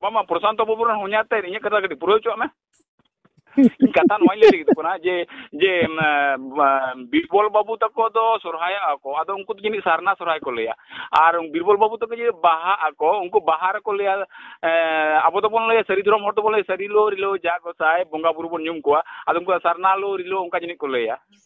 ᱵᱟᱝ ᱵᱟᱝ ᱯᱨᱚᱥᱟᱱᱛᱚ ᱵᱟᱹᱵᱩ ᱨᱮᱱ ᱦᱚᱧᱦᱟᱨ ᱛᱮ ᱤᱧᱟᱹᱜ ᱠᱟᱛᱷᱟ ᱠᱟᱹᱴᱤᱡ ᱯᱩᱨᱟᱹᱣ ᱦᱚᱪᱚᱣᱟᱜ ᱢᱮ ᱠᱟᱛᱷᱟ ᱱᱚᱣᱟᱧ ᱞᱟᱹᱭ ᱞᱟᱹᱜᱤᱫᱚᱜ ᱠᱟᱱᱟ ᱡᱮ ᱡᱮ ᱵᱤᱨᱵᱚᱞ ᱵᱟᱹᱵᱩ ᱛᱟᱠᱚ ᱫᱚ ᱥᱚᱨᱦᱟᱭᱚᱜᱼᱟ ᱠᱚ ᱟᱫᱚ ᱩᱱᱠᱩ ᱫᱚ ᱡᱟᱹᱱᱤᱡ ᱥᱟᱨᱱᱟ ᱥᱚᱨᱦᱟᱭ ᱠᱚ ᱞᱟᱹᱭᱟ ᱟᱨ ᱵᱤᱨᱵᱚᱞ ᱵᱟᱹᱵᱩ ᱛᱟᱠᱚ ᱡᱮ ᱵᱟᱦᱟᱜ ᱟᱠᱚ ᱩᱱᱠᱩ ᱵᱟᱦᱟ ᱨᱮᱠᱚ ᱞᱟᱹᱭᱟ ᱟᱵᱚ ᱫᱚᱵᱚᱱ ᱞᱟᱹᱭᱟ ᱥᱟᱹᱨᱤ ᱫᱷᱚᱨᱚᱢ ᱦᱚᱲ ᱫᱚᱵᱚᱱ ᱞᱟᱹᱭᱟ ᱥᱟᱹᱨᱤ ᱞᱳ ᱨᱤᱞᱟᱹᱣ ᱡᱟ ᱜᱚᱸᱥᱟᱭ ᱵᱚᱸᱜᱟ ᱵᱩᱨᱩ ᱵᱚᱱ ᱧᱩᱢ ᱠᱚᱣᱟ ᱟᱫᱚ ᱩᱱᱠᱩ ᱫᱚ ᱥᱟᱨᱱᱟ ᱞᱳ ᱨᱤᱞᱟᱹᱣ ᱚᱱᱠᱟ ᱡᱟᱹᱱᱤᱡ ᱠᱚ ᱞᱟᱹᱭᱟ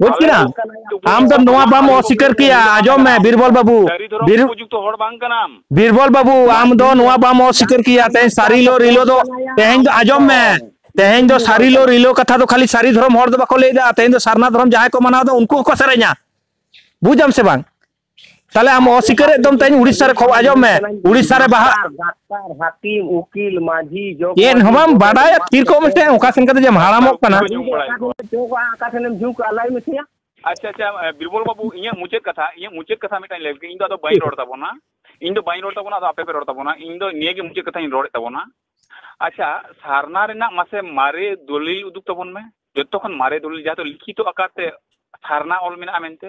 ᱵᱩᱡᱽ ᱠᱮᱫᱟᱢ ᱟᱢ ᱫᱚ ᱱᱚᱣᱟ ᱵᱟᱢ ᱚᱥᱤᱠᱟᱨ ᱠᱮᱭᱟ ᱟᱸᱡᱚᱢ ᱢᱮ ᱵᱤᱨᱵᱚᱞ ᱵᱟᱹᱵᱩ ᱵᱤᱨᱵᱚᱞ ᱵᱟᱹᱵᱩ ᱟᱢ ᱫᱚ ᱱᱚᱣᱟ ᱵᱟᱢ ᱚᱥᱤᱠᱟᱨ ᱠᱮᱭᱟ ᱛᱮᱦᱮᱧ ᱥᱟᱹᱨᱤᱞᱚ ᱨᱤᱞᱚ ᱫᱚ ᱛᱮᱦᱮᱧ ᱫᱚ ᱟᱸᱡᱚᱢ ᱢᱮ ᱛᱮᱦᱮᱧ ᱫᱚ ᱥᱟᱹᱨᱤᱞᱚ ᱨᱤᱞᱚ ᱠᱟᱛᱷᱟ ᱫᱚ ᱠᱷᱟᱹᱞᱤ ᱥᱟᱹᱨᱤ ᱫᱷᱚᱨᱚᱢ ᱦᱚᱲ ᱫᱚ ᱵᱟᱠᱚ ᱞᱟᱹᱭᱫᱟ ᱛᱮᱦᱮᱧ ᱫᱚ ᱥᱟᱨᱱᱟ ᱫᱷᱚᱨᱚᱢ ᱡᱟᱦᱟᱸᱭ ᱠᱚ ᱢᱟᱱᱟᱣᱫᱟ ᱩᱱᱠᱩ ᱦᱚᱸᱠᱚ ᱥᱮᱨᱮᱧᱟ ᱵᱩᱡᱟᱢ ᱥᱮ ᱵᱟᱝ ᱛᱟᱦᱞᱮ ᱟᱢ ᱚᱥᱤᱠᱟᱹᱨᱮᱫ ᱫᱚᱢ ᱛᱮᱦᱮᱧ ᱩᱲᱤᱥᱥᱟ ᱨᱮ ᱠᱷᱚᱵᱚᱨ ᱟᱸᱡᱚᱢ ᱢᱮ ᱩᱲᱤᱥᱥᱟ ᱨᱮ ᱵᱟᱦᱟ ᱰᱟᱠᱛᱟᱨ ᱦᱟᱹᱠᱤᱢ ᱩᱠᱤᱞ ᱢᱟᱹᱡᱷᱤ ᱡᱚᱜᱽ ᱪᱮᱫ ᱦᱚᱸ ᱵᱟᱢ ᱵᱟᱰᱟᱭᱟ ᱛᱷᱤᱨ ᱠᱚᱜ ᱢᱮᱥᱮ ᱚᱠᱟ ᱥᱮᱱ ᱠᱟᱛᱮ ᱡᱮᱢ ᱦᱟᱲᱟᱢᱚᱜ ᱠᱟᱱᱟ ᱡᱚᱜᱟ ᱚᱠᱟ ᱥᱮᱱᱮᱢ ᱡᱷᱩᱠᱟ ᱞᱟᱹᱭ ᱢᱮᱥᱮ ᱟᱪᱪᱷᱟ ᱟᱪᱪᱷᱟ ᱵᱤᱨᱵᱚᱞ ᱵᱟᱹᱵᱩ ᱤᱧᱟᱹᱜ ᱢᱩᱪᱟᱹᱫ ᱠᱟᱛᱷᱟ ᱤᱧᱟᱹᱜ ᱢᱩᱪᱟᱹᱫ ᱠᱟᱛᱷᱟ ᱢᱤᱫᱴᱟᱝ ᱞᱟᱹᱭ ᱤᱧ ᱫᱚ ᱟᱫᱚ ᱵᱟᱹᱧ ᱨᱚᱲ ᱛᱟᱵᱚᱱᱟ ᱤᱧ ᱫᱚ ᱵᱟᱹᱧ ᱨᱚᱲ ᱛᱟᱵᱚᱱᱟ ᱟᱫᱚ ᱟᱯᱮ ᱯᱮ ᱨᱚᱲ ᱛᱟᱵᱚᱱᱟ ᱤᱧ ᱫᱚ ᱱᱤᱭᱟᱹ ᱜᱮ ᱢᱩᱪᱟᱹᱫ ᱠᱟᱛᱷᱟᱧ ᱨᱚᱲᱮᱫ ᱛᱟᱵᱚᱱᱟ ᱟᱪᱪᱷᱟ ᱥᱟᱨᱱᱟ ᱨᱮᱱᱟᱜ ᱢᱟᱥᱮ ᱢᱟᱨᱮ ᱫᱚᱞᱤᱞ ᱩᱫᱩᱜ ᱛᱟᱵᱚᱱ ᱢᱮ ᱡᱚᱛᱚ ᱠᱷᱚᱱ ᱢᱟᱨᱮ ᱫᱚᱞᱤᱞ ᱡᱟᱦᱟᱸ ᱫᱚ ᱞᱤᱠᱷᱤᱛᱚ ᱟᱠᱟᱨ ᱛᱮ ᱥᱟᱨᱱᱟ ᱚᱞ ᱢᱮᱱᱟᱜᱼᱟ ᱢᱮᱱᱛᱮ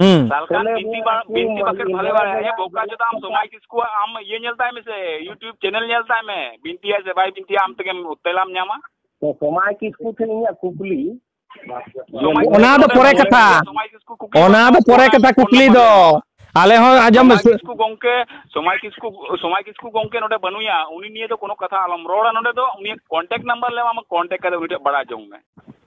ᱦᱩᱸ ᱥᱟᱞᱠᱟᱱ ᱵᱤᱱᱛᱤ ᱵᱟ ᱵᱤᱱᱛᱤ ᱵᱟᱠᱷᱮᱲ ᱵᱷᱟᱞᱮ ᱵᱟᱲᱟ ᱦᱮ ᱵᱚᱠᱟ ᱡᱚᱫᱟ ᱟᱢ ᱥᱚᱢᱟᱭ ᱠᱤᱥᱠᱩ ᱟᱢ ᱤᱭᱟᱹ ᱧᱮᱞ ᱛᱟᱭ ᱢᱮᱥᱮ ᱭᱩᱴᱤᱭᱩᱵ ᱪᱮᱱᱮᱞ ᱧᱮᱞ ᱛᱟᱭ ᱢᱮ ᱵᱤᱱᱛᱤ ᱟᱭ ᱥᱮ ᱵᱟᱭ ᱵᱤᱱᱛᱤ ᱟᱢ ᱛᱮᱜᱮᱢ ᱛᱮᱞᱟᱢ ᱧᱟᱢᱟ ᱛᱚ ᱥᱚᱢᱟᱭ ᱠᱤᱥᱠᱩ ᱴᱷᱮᱱ ᱤᱧᱟᱹᱜ ᱠᱩᱠᱞᱤ ᱚᱱᱟ ᱫᱚ ᱯᱚᱨᱮ ᱠᱟᱛᱷᱟ ᱚᱱᱟ ᱫᱚ ᱯᱚᱨᱮ ᱠᱟᱛᱷᱟ ᱠᱩᱠᱞᱤ ᱫᱚ ᱟᱞᱮ ᱦᱚᱸ ᱟᱸᱡᱚᱢ ᱢᱮ ᱠᱤᱥᱠᱩ ᱜᱚᱝᱠᱮ ᱥᱚᱢᱟᱭ ᱠᱤᱥᱠᱩ ᱥᱚᱢᱟᱭ ᱠᱤᱥᱠᱩ ᱜᱚᱝᱠᱮ ᱱᱚᱰᱮ ᱵᱟᱹᱱᱩᱭᱟ ᱩᱱᱤ ᱱᱤᱭᱮ ᱫᱚ ᱠᱳᱱᱳ ᱠᱟᱛᱷᱟ ᱟᱞᱚᱢ ᱨᱚᱲᱟ ᱱᱚᱰᱮ ᱫᱚ ᱩᱱᱤᱭᱟᱜ ᱠᱚᱱᱴᱟᱠᱴ ᱱᱟᱢᱵᱟᱨ ᱞᱮ ᱮᱢᱟᱢᱟ ᱠᱚᱱᱴᱟᱠᱴ ᱠᱟᱛᱮ ᱩᱱᱤ ᱴᱷᱮᱱ ᱵᱟᱲᱟᱭ ᱡᱚᱝ ᱢᱮ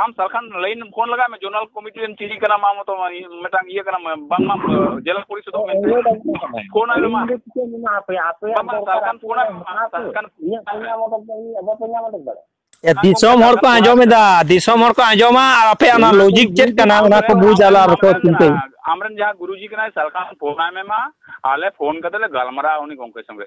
ᱟᱢ ᱥᱟᱞᱠᱷᱟᱱ ᱞᱟᱭᱤᱱ ᱯᱷᱳᱱ ᱞᱟᱜᱟᱭ ᱢᱮ ᱡᱚᱱᱟᱞ ᱠᱚᱢᱤᱴᱤ ᱨᱮᱱ ᱪᱤᱞᱤ ᱠᱟᱱᱟᱢ ᱟᱢ ᱛᱚ ᱢᱤᱫᱴᱟᱝ ᱤᱭᱟᱹ ᱠᱟᱱᱟᱢ ᱵᱟᱝ ᱢᱟᱢ ᱡᱮᱞᱟ ᱯᱚᱨᱤᱥᱚᱫ ᱯᱷᱳᱱ ᱟᱭ ᱢᱟ ᱟᱯᱮ ᱟᱯᱮ ᱥᱟᱞᱠᱷᱟᱱ ᱯᱷᱳᱱ ᱟᱭ ᱥᱟᱞᱠᱷᱟᱱ ᱤᱧᱟᱹᱜ ᱯᱚᱧᱟ ᱢᱚᱴᱚᱠ ᱫᱚ ᱤᱧᱟᱹᱜ ᱵᱟᱯᱮ ᱧᱟᱢ ᱚᱰᱚᱠ ᱫᱟᱲᱮᱭᱟᱜᱼᱟ ᱫᱤᱥᱚᱢ ᱦᱚᱲ ᱠᱚ ᱟᱸᱡᱚᱢ ᱮᱫᱟ ᱫᱤᱥᱚᱢ ᱦᱚᱲ ᱠᱚ ᱟᱸᱡᱚᱢᱟ ᱟᱨ ᱟᱯᱮ ᱚᱱᱟ ᱞᱚᱡᱤᱠ ᱪᱮᱫ ᱠᱟᱱᱟ ᱚᱱᱟ ᱠᱚ ᱵᱩᱡᱽ ᱟᱞᱟ ᱟᱨ ᱠᱚ ᱪᱤᱱᱛᱟᱹᱭ ᱟᱢᱨᱮᱱ ᱡᱟᱦᱟᱸ ᱜᱩᱨᱩᱡᱤ ᱠᱟᱱᱟᱭ ᱥᱟᱞᱠᱷᱟᱱ ᱯᱷᱳᱱ ᱟᱭ ᱢᱮ ᱢᱟ ᱟᱞᱮ ᱯᱷᱳᱱ ᱠᱟᱛᱮ ᱞᱮ ᱜᱟᱞᱢᱟᱨᱟᱣᱟ ᱩᱱᱤ ᱜᱚᱝᱠᱮ ᱥᱚᱸᱜᱮ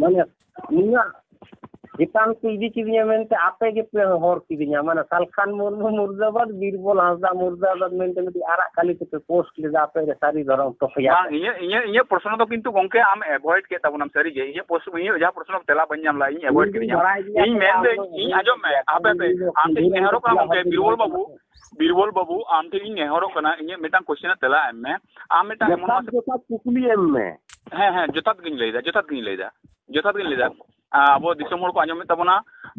ᱢᱟᱱᱮ ᱤᱧᱟᱹᱜ ᱪᱮᱛᱟᱱ ᱠᱚ ᱤᱫᱤ ᱠᱤᱫᱤᱧᱟ ᱢᱮᱱᱛᱮ ᱟᱯᱮ ᱜᱮᱯᱮ ᱦᱚᱨ ᱠᱤᱫᱤᱧᱟ ᱢᱟᱱᱮ ᱥᱟᱞᱠᱷᱟᱱ ᱢᱩᱨᱢᱩ ᱢᱩᱨᱫᱟᱵᱟᱫ ᱵᱤᱨᱵᱚᱞ ᱦᱟᱸᱥᱫᱟ ᱢᱩᱨᱫᱟᱵᱟᱫ ᱢᱮᱱᱛᱮ ᱢᱤᱫᱴᱤᱡ ᱟᱨᱟᱜ ᱠᱟᱞᱤ ᱛᱮᱯᱮ ᱯᱳᱥᱴ ᱞᱮᱫᱟ ᱟᱯᱮ ᱜᱮ ᱥᱟᱹᱨᱤ ᱫᱷᱚᱨᱚᱢ ᱛᱚᱯᱮᱭᱟ ᱵᱟᱝ ᱤᱧᱟᱹᱜ ᱤᱧᱟᱹᱜ ᱤᱧᱟᱹᱜ ᱯᱨᱚᱥᱱᱚ ᱫᱚ ᱠᱤᱱᱛᱩ ᱜᱚᱝᱠᱮ ᱟᱢ ᱮᱵᱷᱚᱭᱮᱰ ᱠᱮᱫ ᱛᱟᱵᱚᱱᱟᱢ ᱥᱟᱹᱨᱤ ᱜᱮ ᱤᱧᱟᱹᱜ ᱯᱨᱚᱥᱱᱚ ᱤᱧᱟᱹᱜ ᱡᱟᱦᱟᱸ ᱯᱨᱚᱥᱱᱚ ᱛᱮᱞᱟ ᱵᱟᱹᱧ ᱧᱟᱢ ᱞᱮᱫᱟ ᱤᱧ ᱮᱵᱷᱚᱭᱮᱰ ᱠᱤᱫᱤᱧᱟ ᱤᱧ ᱢᱮᱱᱫᱟᱹᱧ ᱤᱧ ᱟᱸᱡᱚᱢ ᱢᱮ ᱟᱯᱮ ᱟᱯᱮ ᱟᱢ ᱴᱷᱮᱱ ᱤᱧ ᱱᱮᱦᱚᱨᱚᱜ ᱠᱟᱱᱟ ᱜᱚᱝᱠᱮ ᱵᱤᱨᱵᱚᱞ ᱵᱟᱹᱵᱩ ᱵᱤᱨᱵᱚᱞ ᱵᱟᱹᱵᱩ ᱟᱢ ᱴᱷᱮᱱ ᱤᱧ ᱱᱮᱦᱚᱨᱚᱜ ᱠᱟᱱᱟ ᱤᱧᱟᱹᱜ ᱢᱤᱫᱴᱟᱝ ᱠᱚᱥᱪᱮᱱ ᱨᱮᱱᱟᱜ ᱛᱮᱞᱟ ᱮᱢ ᱢᱮ ᱟᱢ ᱢᱤᱫᱴᱟᱝ ᱮᱢᱚᱱ ᱡᱚᱛᱷᱟᱛ ᱡᱚᱛᱷᱟᱛ ᱠᱩᱠᱞᱤ ᱮᱢ ᱢᱮ ᱦᱮᱸ ᱦᱮᱸ ᱡᱚᱛᱷᱟᱛ ᱜᱤᱧ ᱞᱟᱹᱭᱫᱟ ᱡᱚᱛᱷᱟᱛ ᱜᱤᱧ ᱞᱟᱹᱭᱫᱟ ᱡᱚᱛᱷᱟᱛ ᱜᱤᱧ ᱞᱟᱹᱭᱫᱟ ᱟᱵᱚ ᱫᱤᱥᱚᱢ ᱦᱚᱲ ᱠᱚ ᱟᱸᱡᱚᱢᱮᱫ ᱛᱟᱵᱚᱱᱟ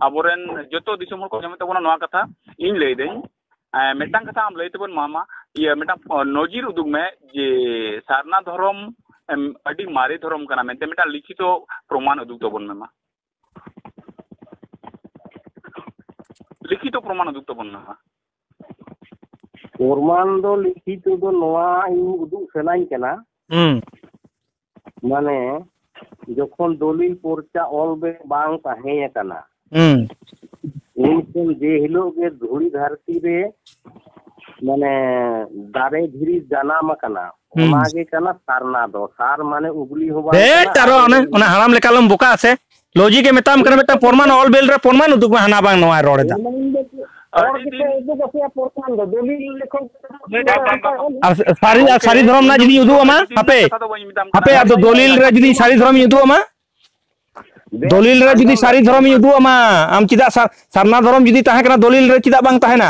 ᱟᱵᱚᱨᱮᱱ ᱡᱚᱛᱚ ᱫᱤᱥᱚᱢ ᱦᱚᱲ ᱠᱚ ᱟᱸᱡᱚᱢᱮᱫ ᱛᱟᱵᱚᱱᱟ ᱱᱚᱣᱟ ᱠᱟᱛᱷᱟ ᱤᱧ ᱞᱟᱹᱭᱫᱟᱹᱧ ᱢᱤᱫᱴᱟᱝ ᱠᱟᱛᱷᱟ ᱟᱢ ᱞᱟᱹᱭ ᱛᱟᱵᱚᱱ ᱢᱟᱢᱟ ᱤᱭᱟᱹ ᱢᱤᱫᱴᱟᱝ ᱱᱚᱡᱤᱨ ᱩᱫᱩᱜ ᱢᱮ ᱡᱮ ᱥᱟᱨᱱᱟ ᱫᱷᱚᱨᱚᱢ ᱟᱹᱰᱤ ᱢᱟᱨᱮ ᱫᱷᱚᱨᱚᱢ ᱠᱟᱱᱟ ᱢᱮᱱᱛᱮ ᱢᱤᱫᱴᱟᱝ ᱞᱤᱠᱷᱤᱛᱚ ᱯᱨᱚᱢᱟᱱ ᱩᱫᱩᱜ ᱛᱟᱵᱚᱱ ᱢᱮ ᱢᱟ ᱞᱤᱠᱷᱤᱛᱚ ᱯᱨᱚᱢᱟᱱ ᱩᱫᱩᱜ ᱛᱟᱵᱚᱱ ᱢᱮ ᱢᱟ ᱯᱨᱚᱢᱟᱱ ᱫᱚ ᱞᱤᱠᱷᱤᱛᱚ ᱫᱚ ᱱᱚᱣᱟ ᱤᱧ ᱩᱫᱩᱜ ᱥᱟᱱᱟᱧ ᱠᱟᱱᱟ ᱢᱟᱱᱮ ᱡᱚᱠᱷᱚᱱ ᱫᱚᱞᱤᱞ ᱯᱚᱨᱪᱟ ᱚᱞ ᱵᱮ ᱵᱟᱝ ᱛᱟᱦᱮᱸ ᱟᱠᱟᱱᱟ ᱩᱱ ᱠᱷᱚᱱ ᱡᱮ ᱦᱤᱞᱳᱜ ᱜᱮ ᱫᱷᱩᱲᱤ ᱫᱷᱟᱹᱨᱛᱤ ᱨᱮ ᱢᱟᱱᱮ ᱫᱟᱨᱮ ᱫᱷᱤᱨᱤ ᱡᱟᱱᱟᱢ ᱟᱠᱟᱱᱟ ᱚᱱᱟ ᱜᱮ ᱠᱟᱱᱟ ᱥᱟᱨᱱᱟ ᱫᱚ ᱥᱟᱨ ᱢᱟᱱᱮ ᱩᱜᱽᱞᱤ ᱦᱚᱸ ᱵᱟᱝ ᱦᱮᱸ ᱴᱟᱨᱚ ᱚᱱᱟ ᱚᱱᱟ ᱦᱟᱲᱟᱢ ᱞᱮᱠᱟ ᱞᱚᱢ ᱵᱚᱠᱟ ᱟᱥᱮ ᱞᱚᱡᱤ ᱜᱮ ᱢᱮᱛᱟᱢ ᱠᱟᱱᱟ ᱢᱤᱫᱴᱟᱝ ᱯᱨᱚᱢᱟᱱ ᱚᱞ ᱵᱮᱞ ᱨᱮ ᱯᱨᱚᱢᱟᱱ ᱩᱫᱩᱜ ᱢᱮ ᱦᱟᱱᱟ ᱵᱟᱝ ᱱᱚᱣᱟ ᱨᱚᱲ ᱮᱫᱟ ᱟᱨ ᱥᱟᱹᱨᱤ ᱟᱨ ᱥᱟᱹᱨᱤ ᱫᱷᱚᱨᱚᱢ ᱨᱮᱱᱟᱜ ᱡᱩᱫᱤᱧ ᱩᱫᱩᱜ ᱟᱢᱟ ᱦᱟᱯᱮ ᱦᱟᱯᱮ ᱟᱫᱚ ᱫᱚᱞᱤᱞ ᱨᱮ ᱡᱩᱫᱤ ᱥᱟᱹᱨᱤ ᱫᱷᱚᱨᱚᱢᱤᱧ ᱩᱫᱩᱜ ᱟᱢᱟ ᱫᱚᱞᱤᱞ ᱨᱮ ᱡᱩᱫᱤ ᱥᱟᱹᱨᱤ ᱫᱷᱚᱨᱚᱢᱤᱧ ᱩᱫᱩᱜ ᱟᱢᱟ ᱟᱢ ᱪᱮᱫᱟᱜ ᱥᱟᱨᱱᱟ ᱫᱷᱚᱨᱚᱢ ᱡᱩᱫᱤ ᱛᱟᱦᱮᱸ ᱠᱟᱱᱟ ᱫᱚᱞᱤᱞ ᱨᱮ ᱪᱮᱫᱟᱜ ᱵᱟᱝ ᱛᱟᱦᱮᱱᱟ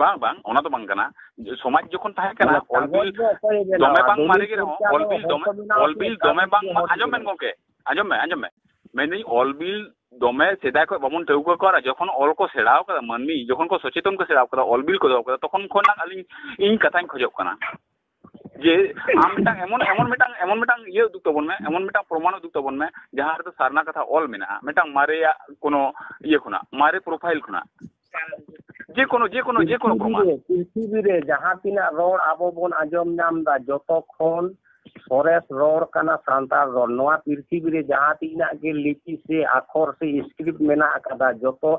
ᱵᱟᱝ ᱵᱟᱝ ᱚᱱᱟ ᱫᱚ ᱵᱟᱝ ᱠᱟᱱᱟ ᱥᱚᱢᱟᱡᱽ ᱡᱚᱠᱷᱚᱱ ᱛᱟᱦᱮᱸ ᱠᱟᱱᱟ ᱚᱞᱵᱤᱞ ᱫᱚᱢᱮ ᱵᱟᱝ ᱢᱟᱨᱮ ᱜᱮ ᱨᱮᱦᱚᱸ ᱚᱞᱵᱤᱞ ᱫᱚᱢᱮ ᱚᱞᱵᱤᱞ ᱫᱚᱢᱮ ᱵᱟᱝ ᱟᱸᱡᱚᱢ ᱢᱮᱱ ᱜᱚᱝᱠᱮ ᱟᱸᱡᱚᱢ ᱢᱮ ᱟᱸᱡᱚᱢ ᱢᱮ ᱢᱮᱱᱫᱟᱹᱧ ᱚᱞᱵᱤᱞ ᱫᱚᱢᱮ ᱥᱮᱫᱟᱭ ᱠᱷᱚᱱ ᱵᱟᱵᱚᱱ ᱴᱷᱟᱹᱣᱠᱟᱹ ᱠᱚᱣᱟ ᱡᱚᱠᱷᱚᱱ ᱚᱞ ᱠᱚ ᱥᱮᱬᱟᱣ ᱠᱟᱫᱟ ᱢᱟᱹᱱᱢᱤ ᱡᱚᱠᱷᱚᱱ ᱠᱚ ᱥᱚᱪᱮᱛᱚᱱ ᱠᱚ ᱥᱮᱬᱟᱣ ᱠᱟᱫᱟ ᱚᱞᱵᱤᱞ ᱠᱚ ᱫᱚᱦᱚ ᱠᱟᱫᱟ ᱛᱚᱠᱷᱚᱱ ᱠᱷᱚᱱᱟᱜ ᱟᱹᱞᱤᱧ ᱤᱧ ᱠᱟᱛᱷᱟᱧ ᱠᱷᱚᱡᱚᱜ ᱠᱟᱱᱟ ᱡᱮ ᱟᱢ ᱢᱤᱫᱴᱟᱝ ᱮᱢᱚᱱ ᱮᱢᱚᱱ ᱢᱤᱫᱴᱟᱝ ᱮᱢᱚᱱ ᱢᱤᱫᱴᱟᱝ ᱤᱭᱟᱹ ᱩᱫᱩᱜᱽ ᱛᱟᱵᱚᱱ ᱢᱮ ᱮᱢᱚᱱ ᱢᱤᱫᱴᱟᱝ ᱯᱨᱚᱢᱟᱱ ᱩᱫᱩᱜᱽ ᱛᱟᱵᱚᱱ ᱢᱮ ᱡᱟᱦᱟᱸ ᱨᱮᱫᱚ ᱥᱟᱨᱱᱟ ᱠᱟᱛᱷᱟ ᱚᱞ ᱢᱮᱱᱟᱜᱼᱟ ᱢᱤᱫᱴᱟᱝ ᱢᱟᱨᱮᱭᱟᱜ ᱠᱚᱱᱳ ᱤᱭᱟᱹ ᱠᱷᱚᱱᱟᱜ ᱢᱟᱨᱮ ᱯᱨᱚᱯᱷᱟᱭᱤᱞ ᱠᱷᱚᱱᱟᱜ ᱡᱮ ᱠᱚᱱᱳ ᱡᱮ ᱠᱚᱱᱳ ᱡᱮ ᱠᱚᱱᱳ ᱯᱨᱚᱢᱟᱱ ᱯᱨᱤᱛᱷᱤᱵᱤ ᱨᱮ ᱡᱟᱦᱟᱸ ᱛᱤᱱᱟᱹᱜ ᱨᱚᱲ ᱟᱵᱚ ᱵᱚᱱ ᱟᱸᱡᱚᱢ ᱧᱟᱢ ᱫᱟ ᱡᱚᱛᱚ ᱠᱷᱚᱱ ᱥᱚᱨᱮᱥ ᱨᱚᱲ ᱠᱟᱱᱟ ᱥᱟᱱᱛᱟᱲ ᱨᱚᱲ ᱱᱚᱣᱟ ᱯᱨᱤᱛᱷᱤᱵᱤ ᱨᱮ ᱡᱟᱦᱟᱸ ᱛᱤᱱᱟᱹᱜ ᱜᱮ ᱞᱤᱯᱤ ᱥᱮ ᱟᱠᱷᱚᱨ ᱥᱮ ᱥᱠᱨᱤᱯᱴ ᱢᱮᱱᱟᱜ ᱟᱠᱟᱫᱟ ᱡᱚᱛᱚ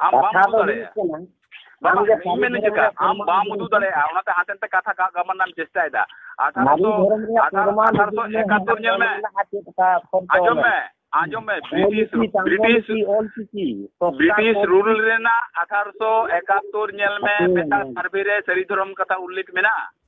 ᱟᱢ ᱵᱟᱢ ᱩᱫᱩᱜ ᱫᱟᱲᱮᱭᱟᱜᱼᱟ ᱵᱟᱝ ᱤᱧ ᱢᱮᱱ ᱦᱚᱪᱚ ᱠᱟᱜ ᱟᱢ ᱵᱟᱢ ᱩᱫᱩᱜ ᱫᱟᱲᱮᱭᱟᱜᱼᱟ ᱚᱱᱟᱛᱮ ᱦᱟᱱᱛᱮ ᱱᱟᱛᱮ ᱠᱟᱛᱷᱟ ᱠᱟᱜ ᱜᱟᱢᱟᱱ ᱨᱮᱱᱟᱜ ᱪᱮᱥᱴᱟᱭᱮᱫᱟ ᱟᱴᱷᱟᱨᱚᱥᱚ ᱟᱴᱷᱟᱨᱚᱥᱚ ᱮᱠᱟᱛᱛᱳᱨ ᱧᱮᱞ ᱢᱮ ᱟᱸᱡᱚᱢ ᱢᱮ ᱟᱸᱡᱚᱢ ᱢᱮ ᱵᱨᱤᱴᱤᱥ ᱵᱨᱤᱴᱤᱥ ᱵᱨᱤᱴᱤᱥ ᱨᱩᱞ ᱨᱮᱱᱟᱜ ᱟᱴᱷᱟᱨᱚᱥᱚ ᱮᱠᱟᱛᱛᱳᱨ ᱧᱮᱞ ᱢᱮ ᱢᱤᱫᱴᱟᱝ ᱥᱟᱨᱵᱷᱮ ᱨᱮ ᱥᱟᱹᱨᱤ ᱫᱷᱚᱨᱚᱢ ᱠᱟᱛᱷᱟ ᱩᱞᱞᱮᱠᱷ ᱢᱮᱱᱟᱜᱼᱟ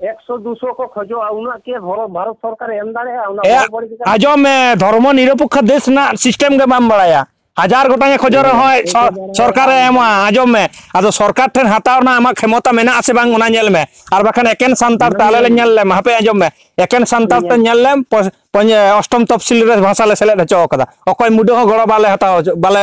ᱮᱠᱥᱚ ᱫᱩᱥᱚ ᱠᱚ ᱠᱷᱚᱡᱚᱜᱼᱟ ᱩᱱᱟᱹᱜ ᱠᱤ ᱵᱷᱟᱨᱚᱛ ᱥᱚᱨᱠᱟᱨ ᱮᱢ ᱫᱟᱲᱮᱭᱟᱜᱼᱟ ᱚᱱᱟ ᱟᱸᱡᱚᱢ ᱢᱮ ᱫᱷᱚᱨᱢᱚ ᱱᱤᱨᱚᱯᱮᱠᱠᱷᱚ ᱫᱮᱥ ᱨᱮᱱᱟᱜ ᱥᱤᱥᱴᱮᱢ ᱜᱮ ᱵᱟᱢ ᱵᱟᱲᱟᱭᱟ ᱦᱟᱡᱟᱨ ᱜᱚᱴᱟᱝ ᱮ ᱠᱷᱚᱡᱚᱜ ᱨᱮᱦᱚᱸ ᱥᱚᱨᱠᱟᱨ ᱮ ᱮᱢᱟ ᱟᱸᱡᱚᱢ ᱢᱮ ᱟᱫᱚ ᱥᱚᱨᱠᱟᱨ ᱴᱷᱮᱱ ᱦᱟᱛᱟᱣ ᱨᱮᱱᱟᱜ ᱟᱢᱟᱜ ᱠᱷᱮᱢᱚᱛᱟ ᱢᱮᱱᱟᱜ ᱟᱥᱮ ᱵᱟᱝ ᱚᱱᱟ ᱧᱮᱞ ᱢᱮ ᱟᱨ ᱵᱟᱠᱷᱟᱱ ᱮᱠᱮᱱ ᱥᱟᱱᱛᱟᱲ ᱛᱟᱦᱞᱮ ᱞᱮ ᱧᱮᱞ ᱞᱮᱢ ᱦᱟᱯᱮ ᱟᱸᱡᱚᱢ ᱢᱮ ᱮᱠᱮᱱ ᱥᱟᱱᱛᱟᱲ ᱛᱮ ᱧᱮᱞ ᱞᱮᱢ ᱚᱥᱴᱚᱢ ᱛᱚᱯᱥᱤᱞ ᱨᱮ ᱵᱷᱟᱥᱟ ᱞᱮ ᱥᱮᱞᱮᱫ ᱦᱚᱪᱚ ᱟᱠᱟᱫᱟ ᱚᱠᱚᱭ ᱢᱩᱰᱟᱹ ᱦᱚᱸ ᱜᱚᱲᱚ ᱵᱟᱞᱮ ᱦᱟᱛᱟᱣ ᱵᱟᱞᱮ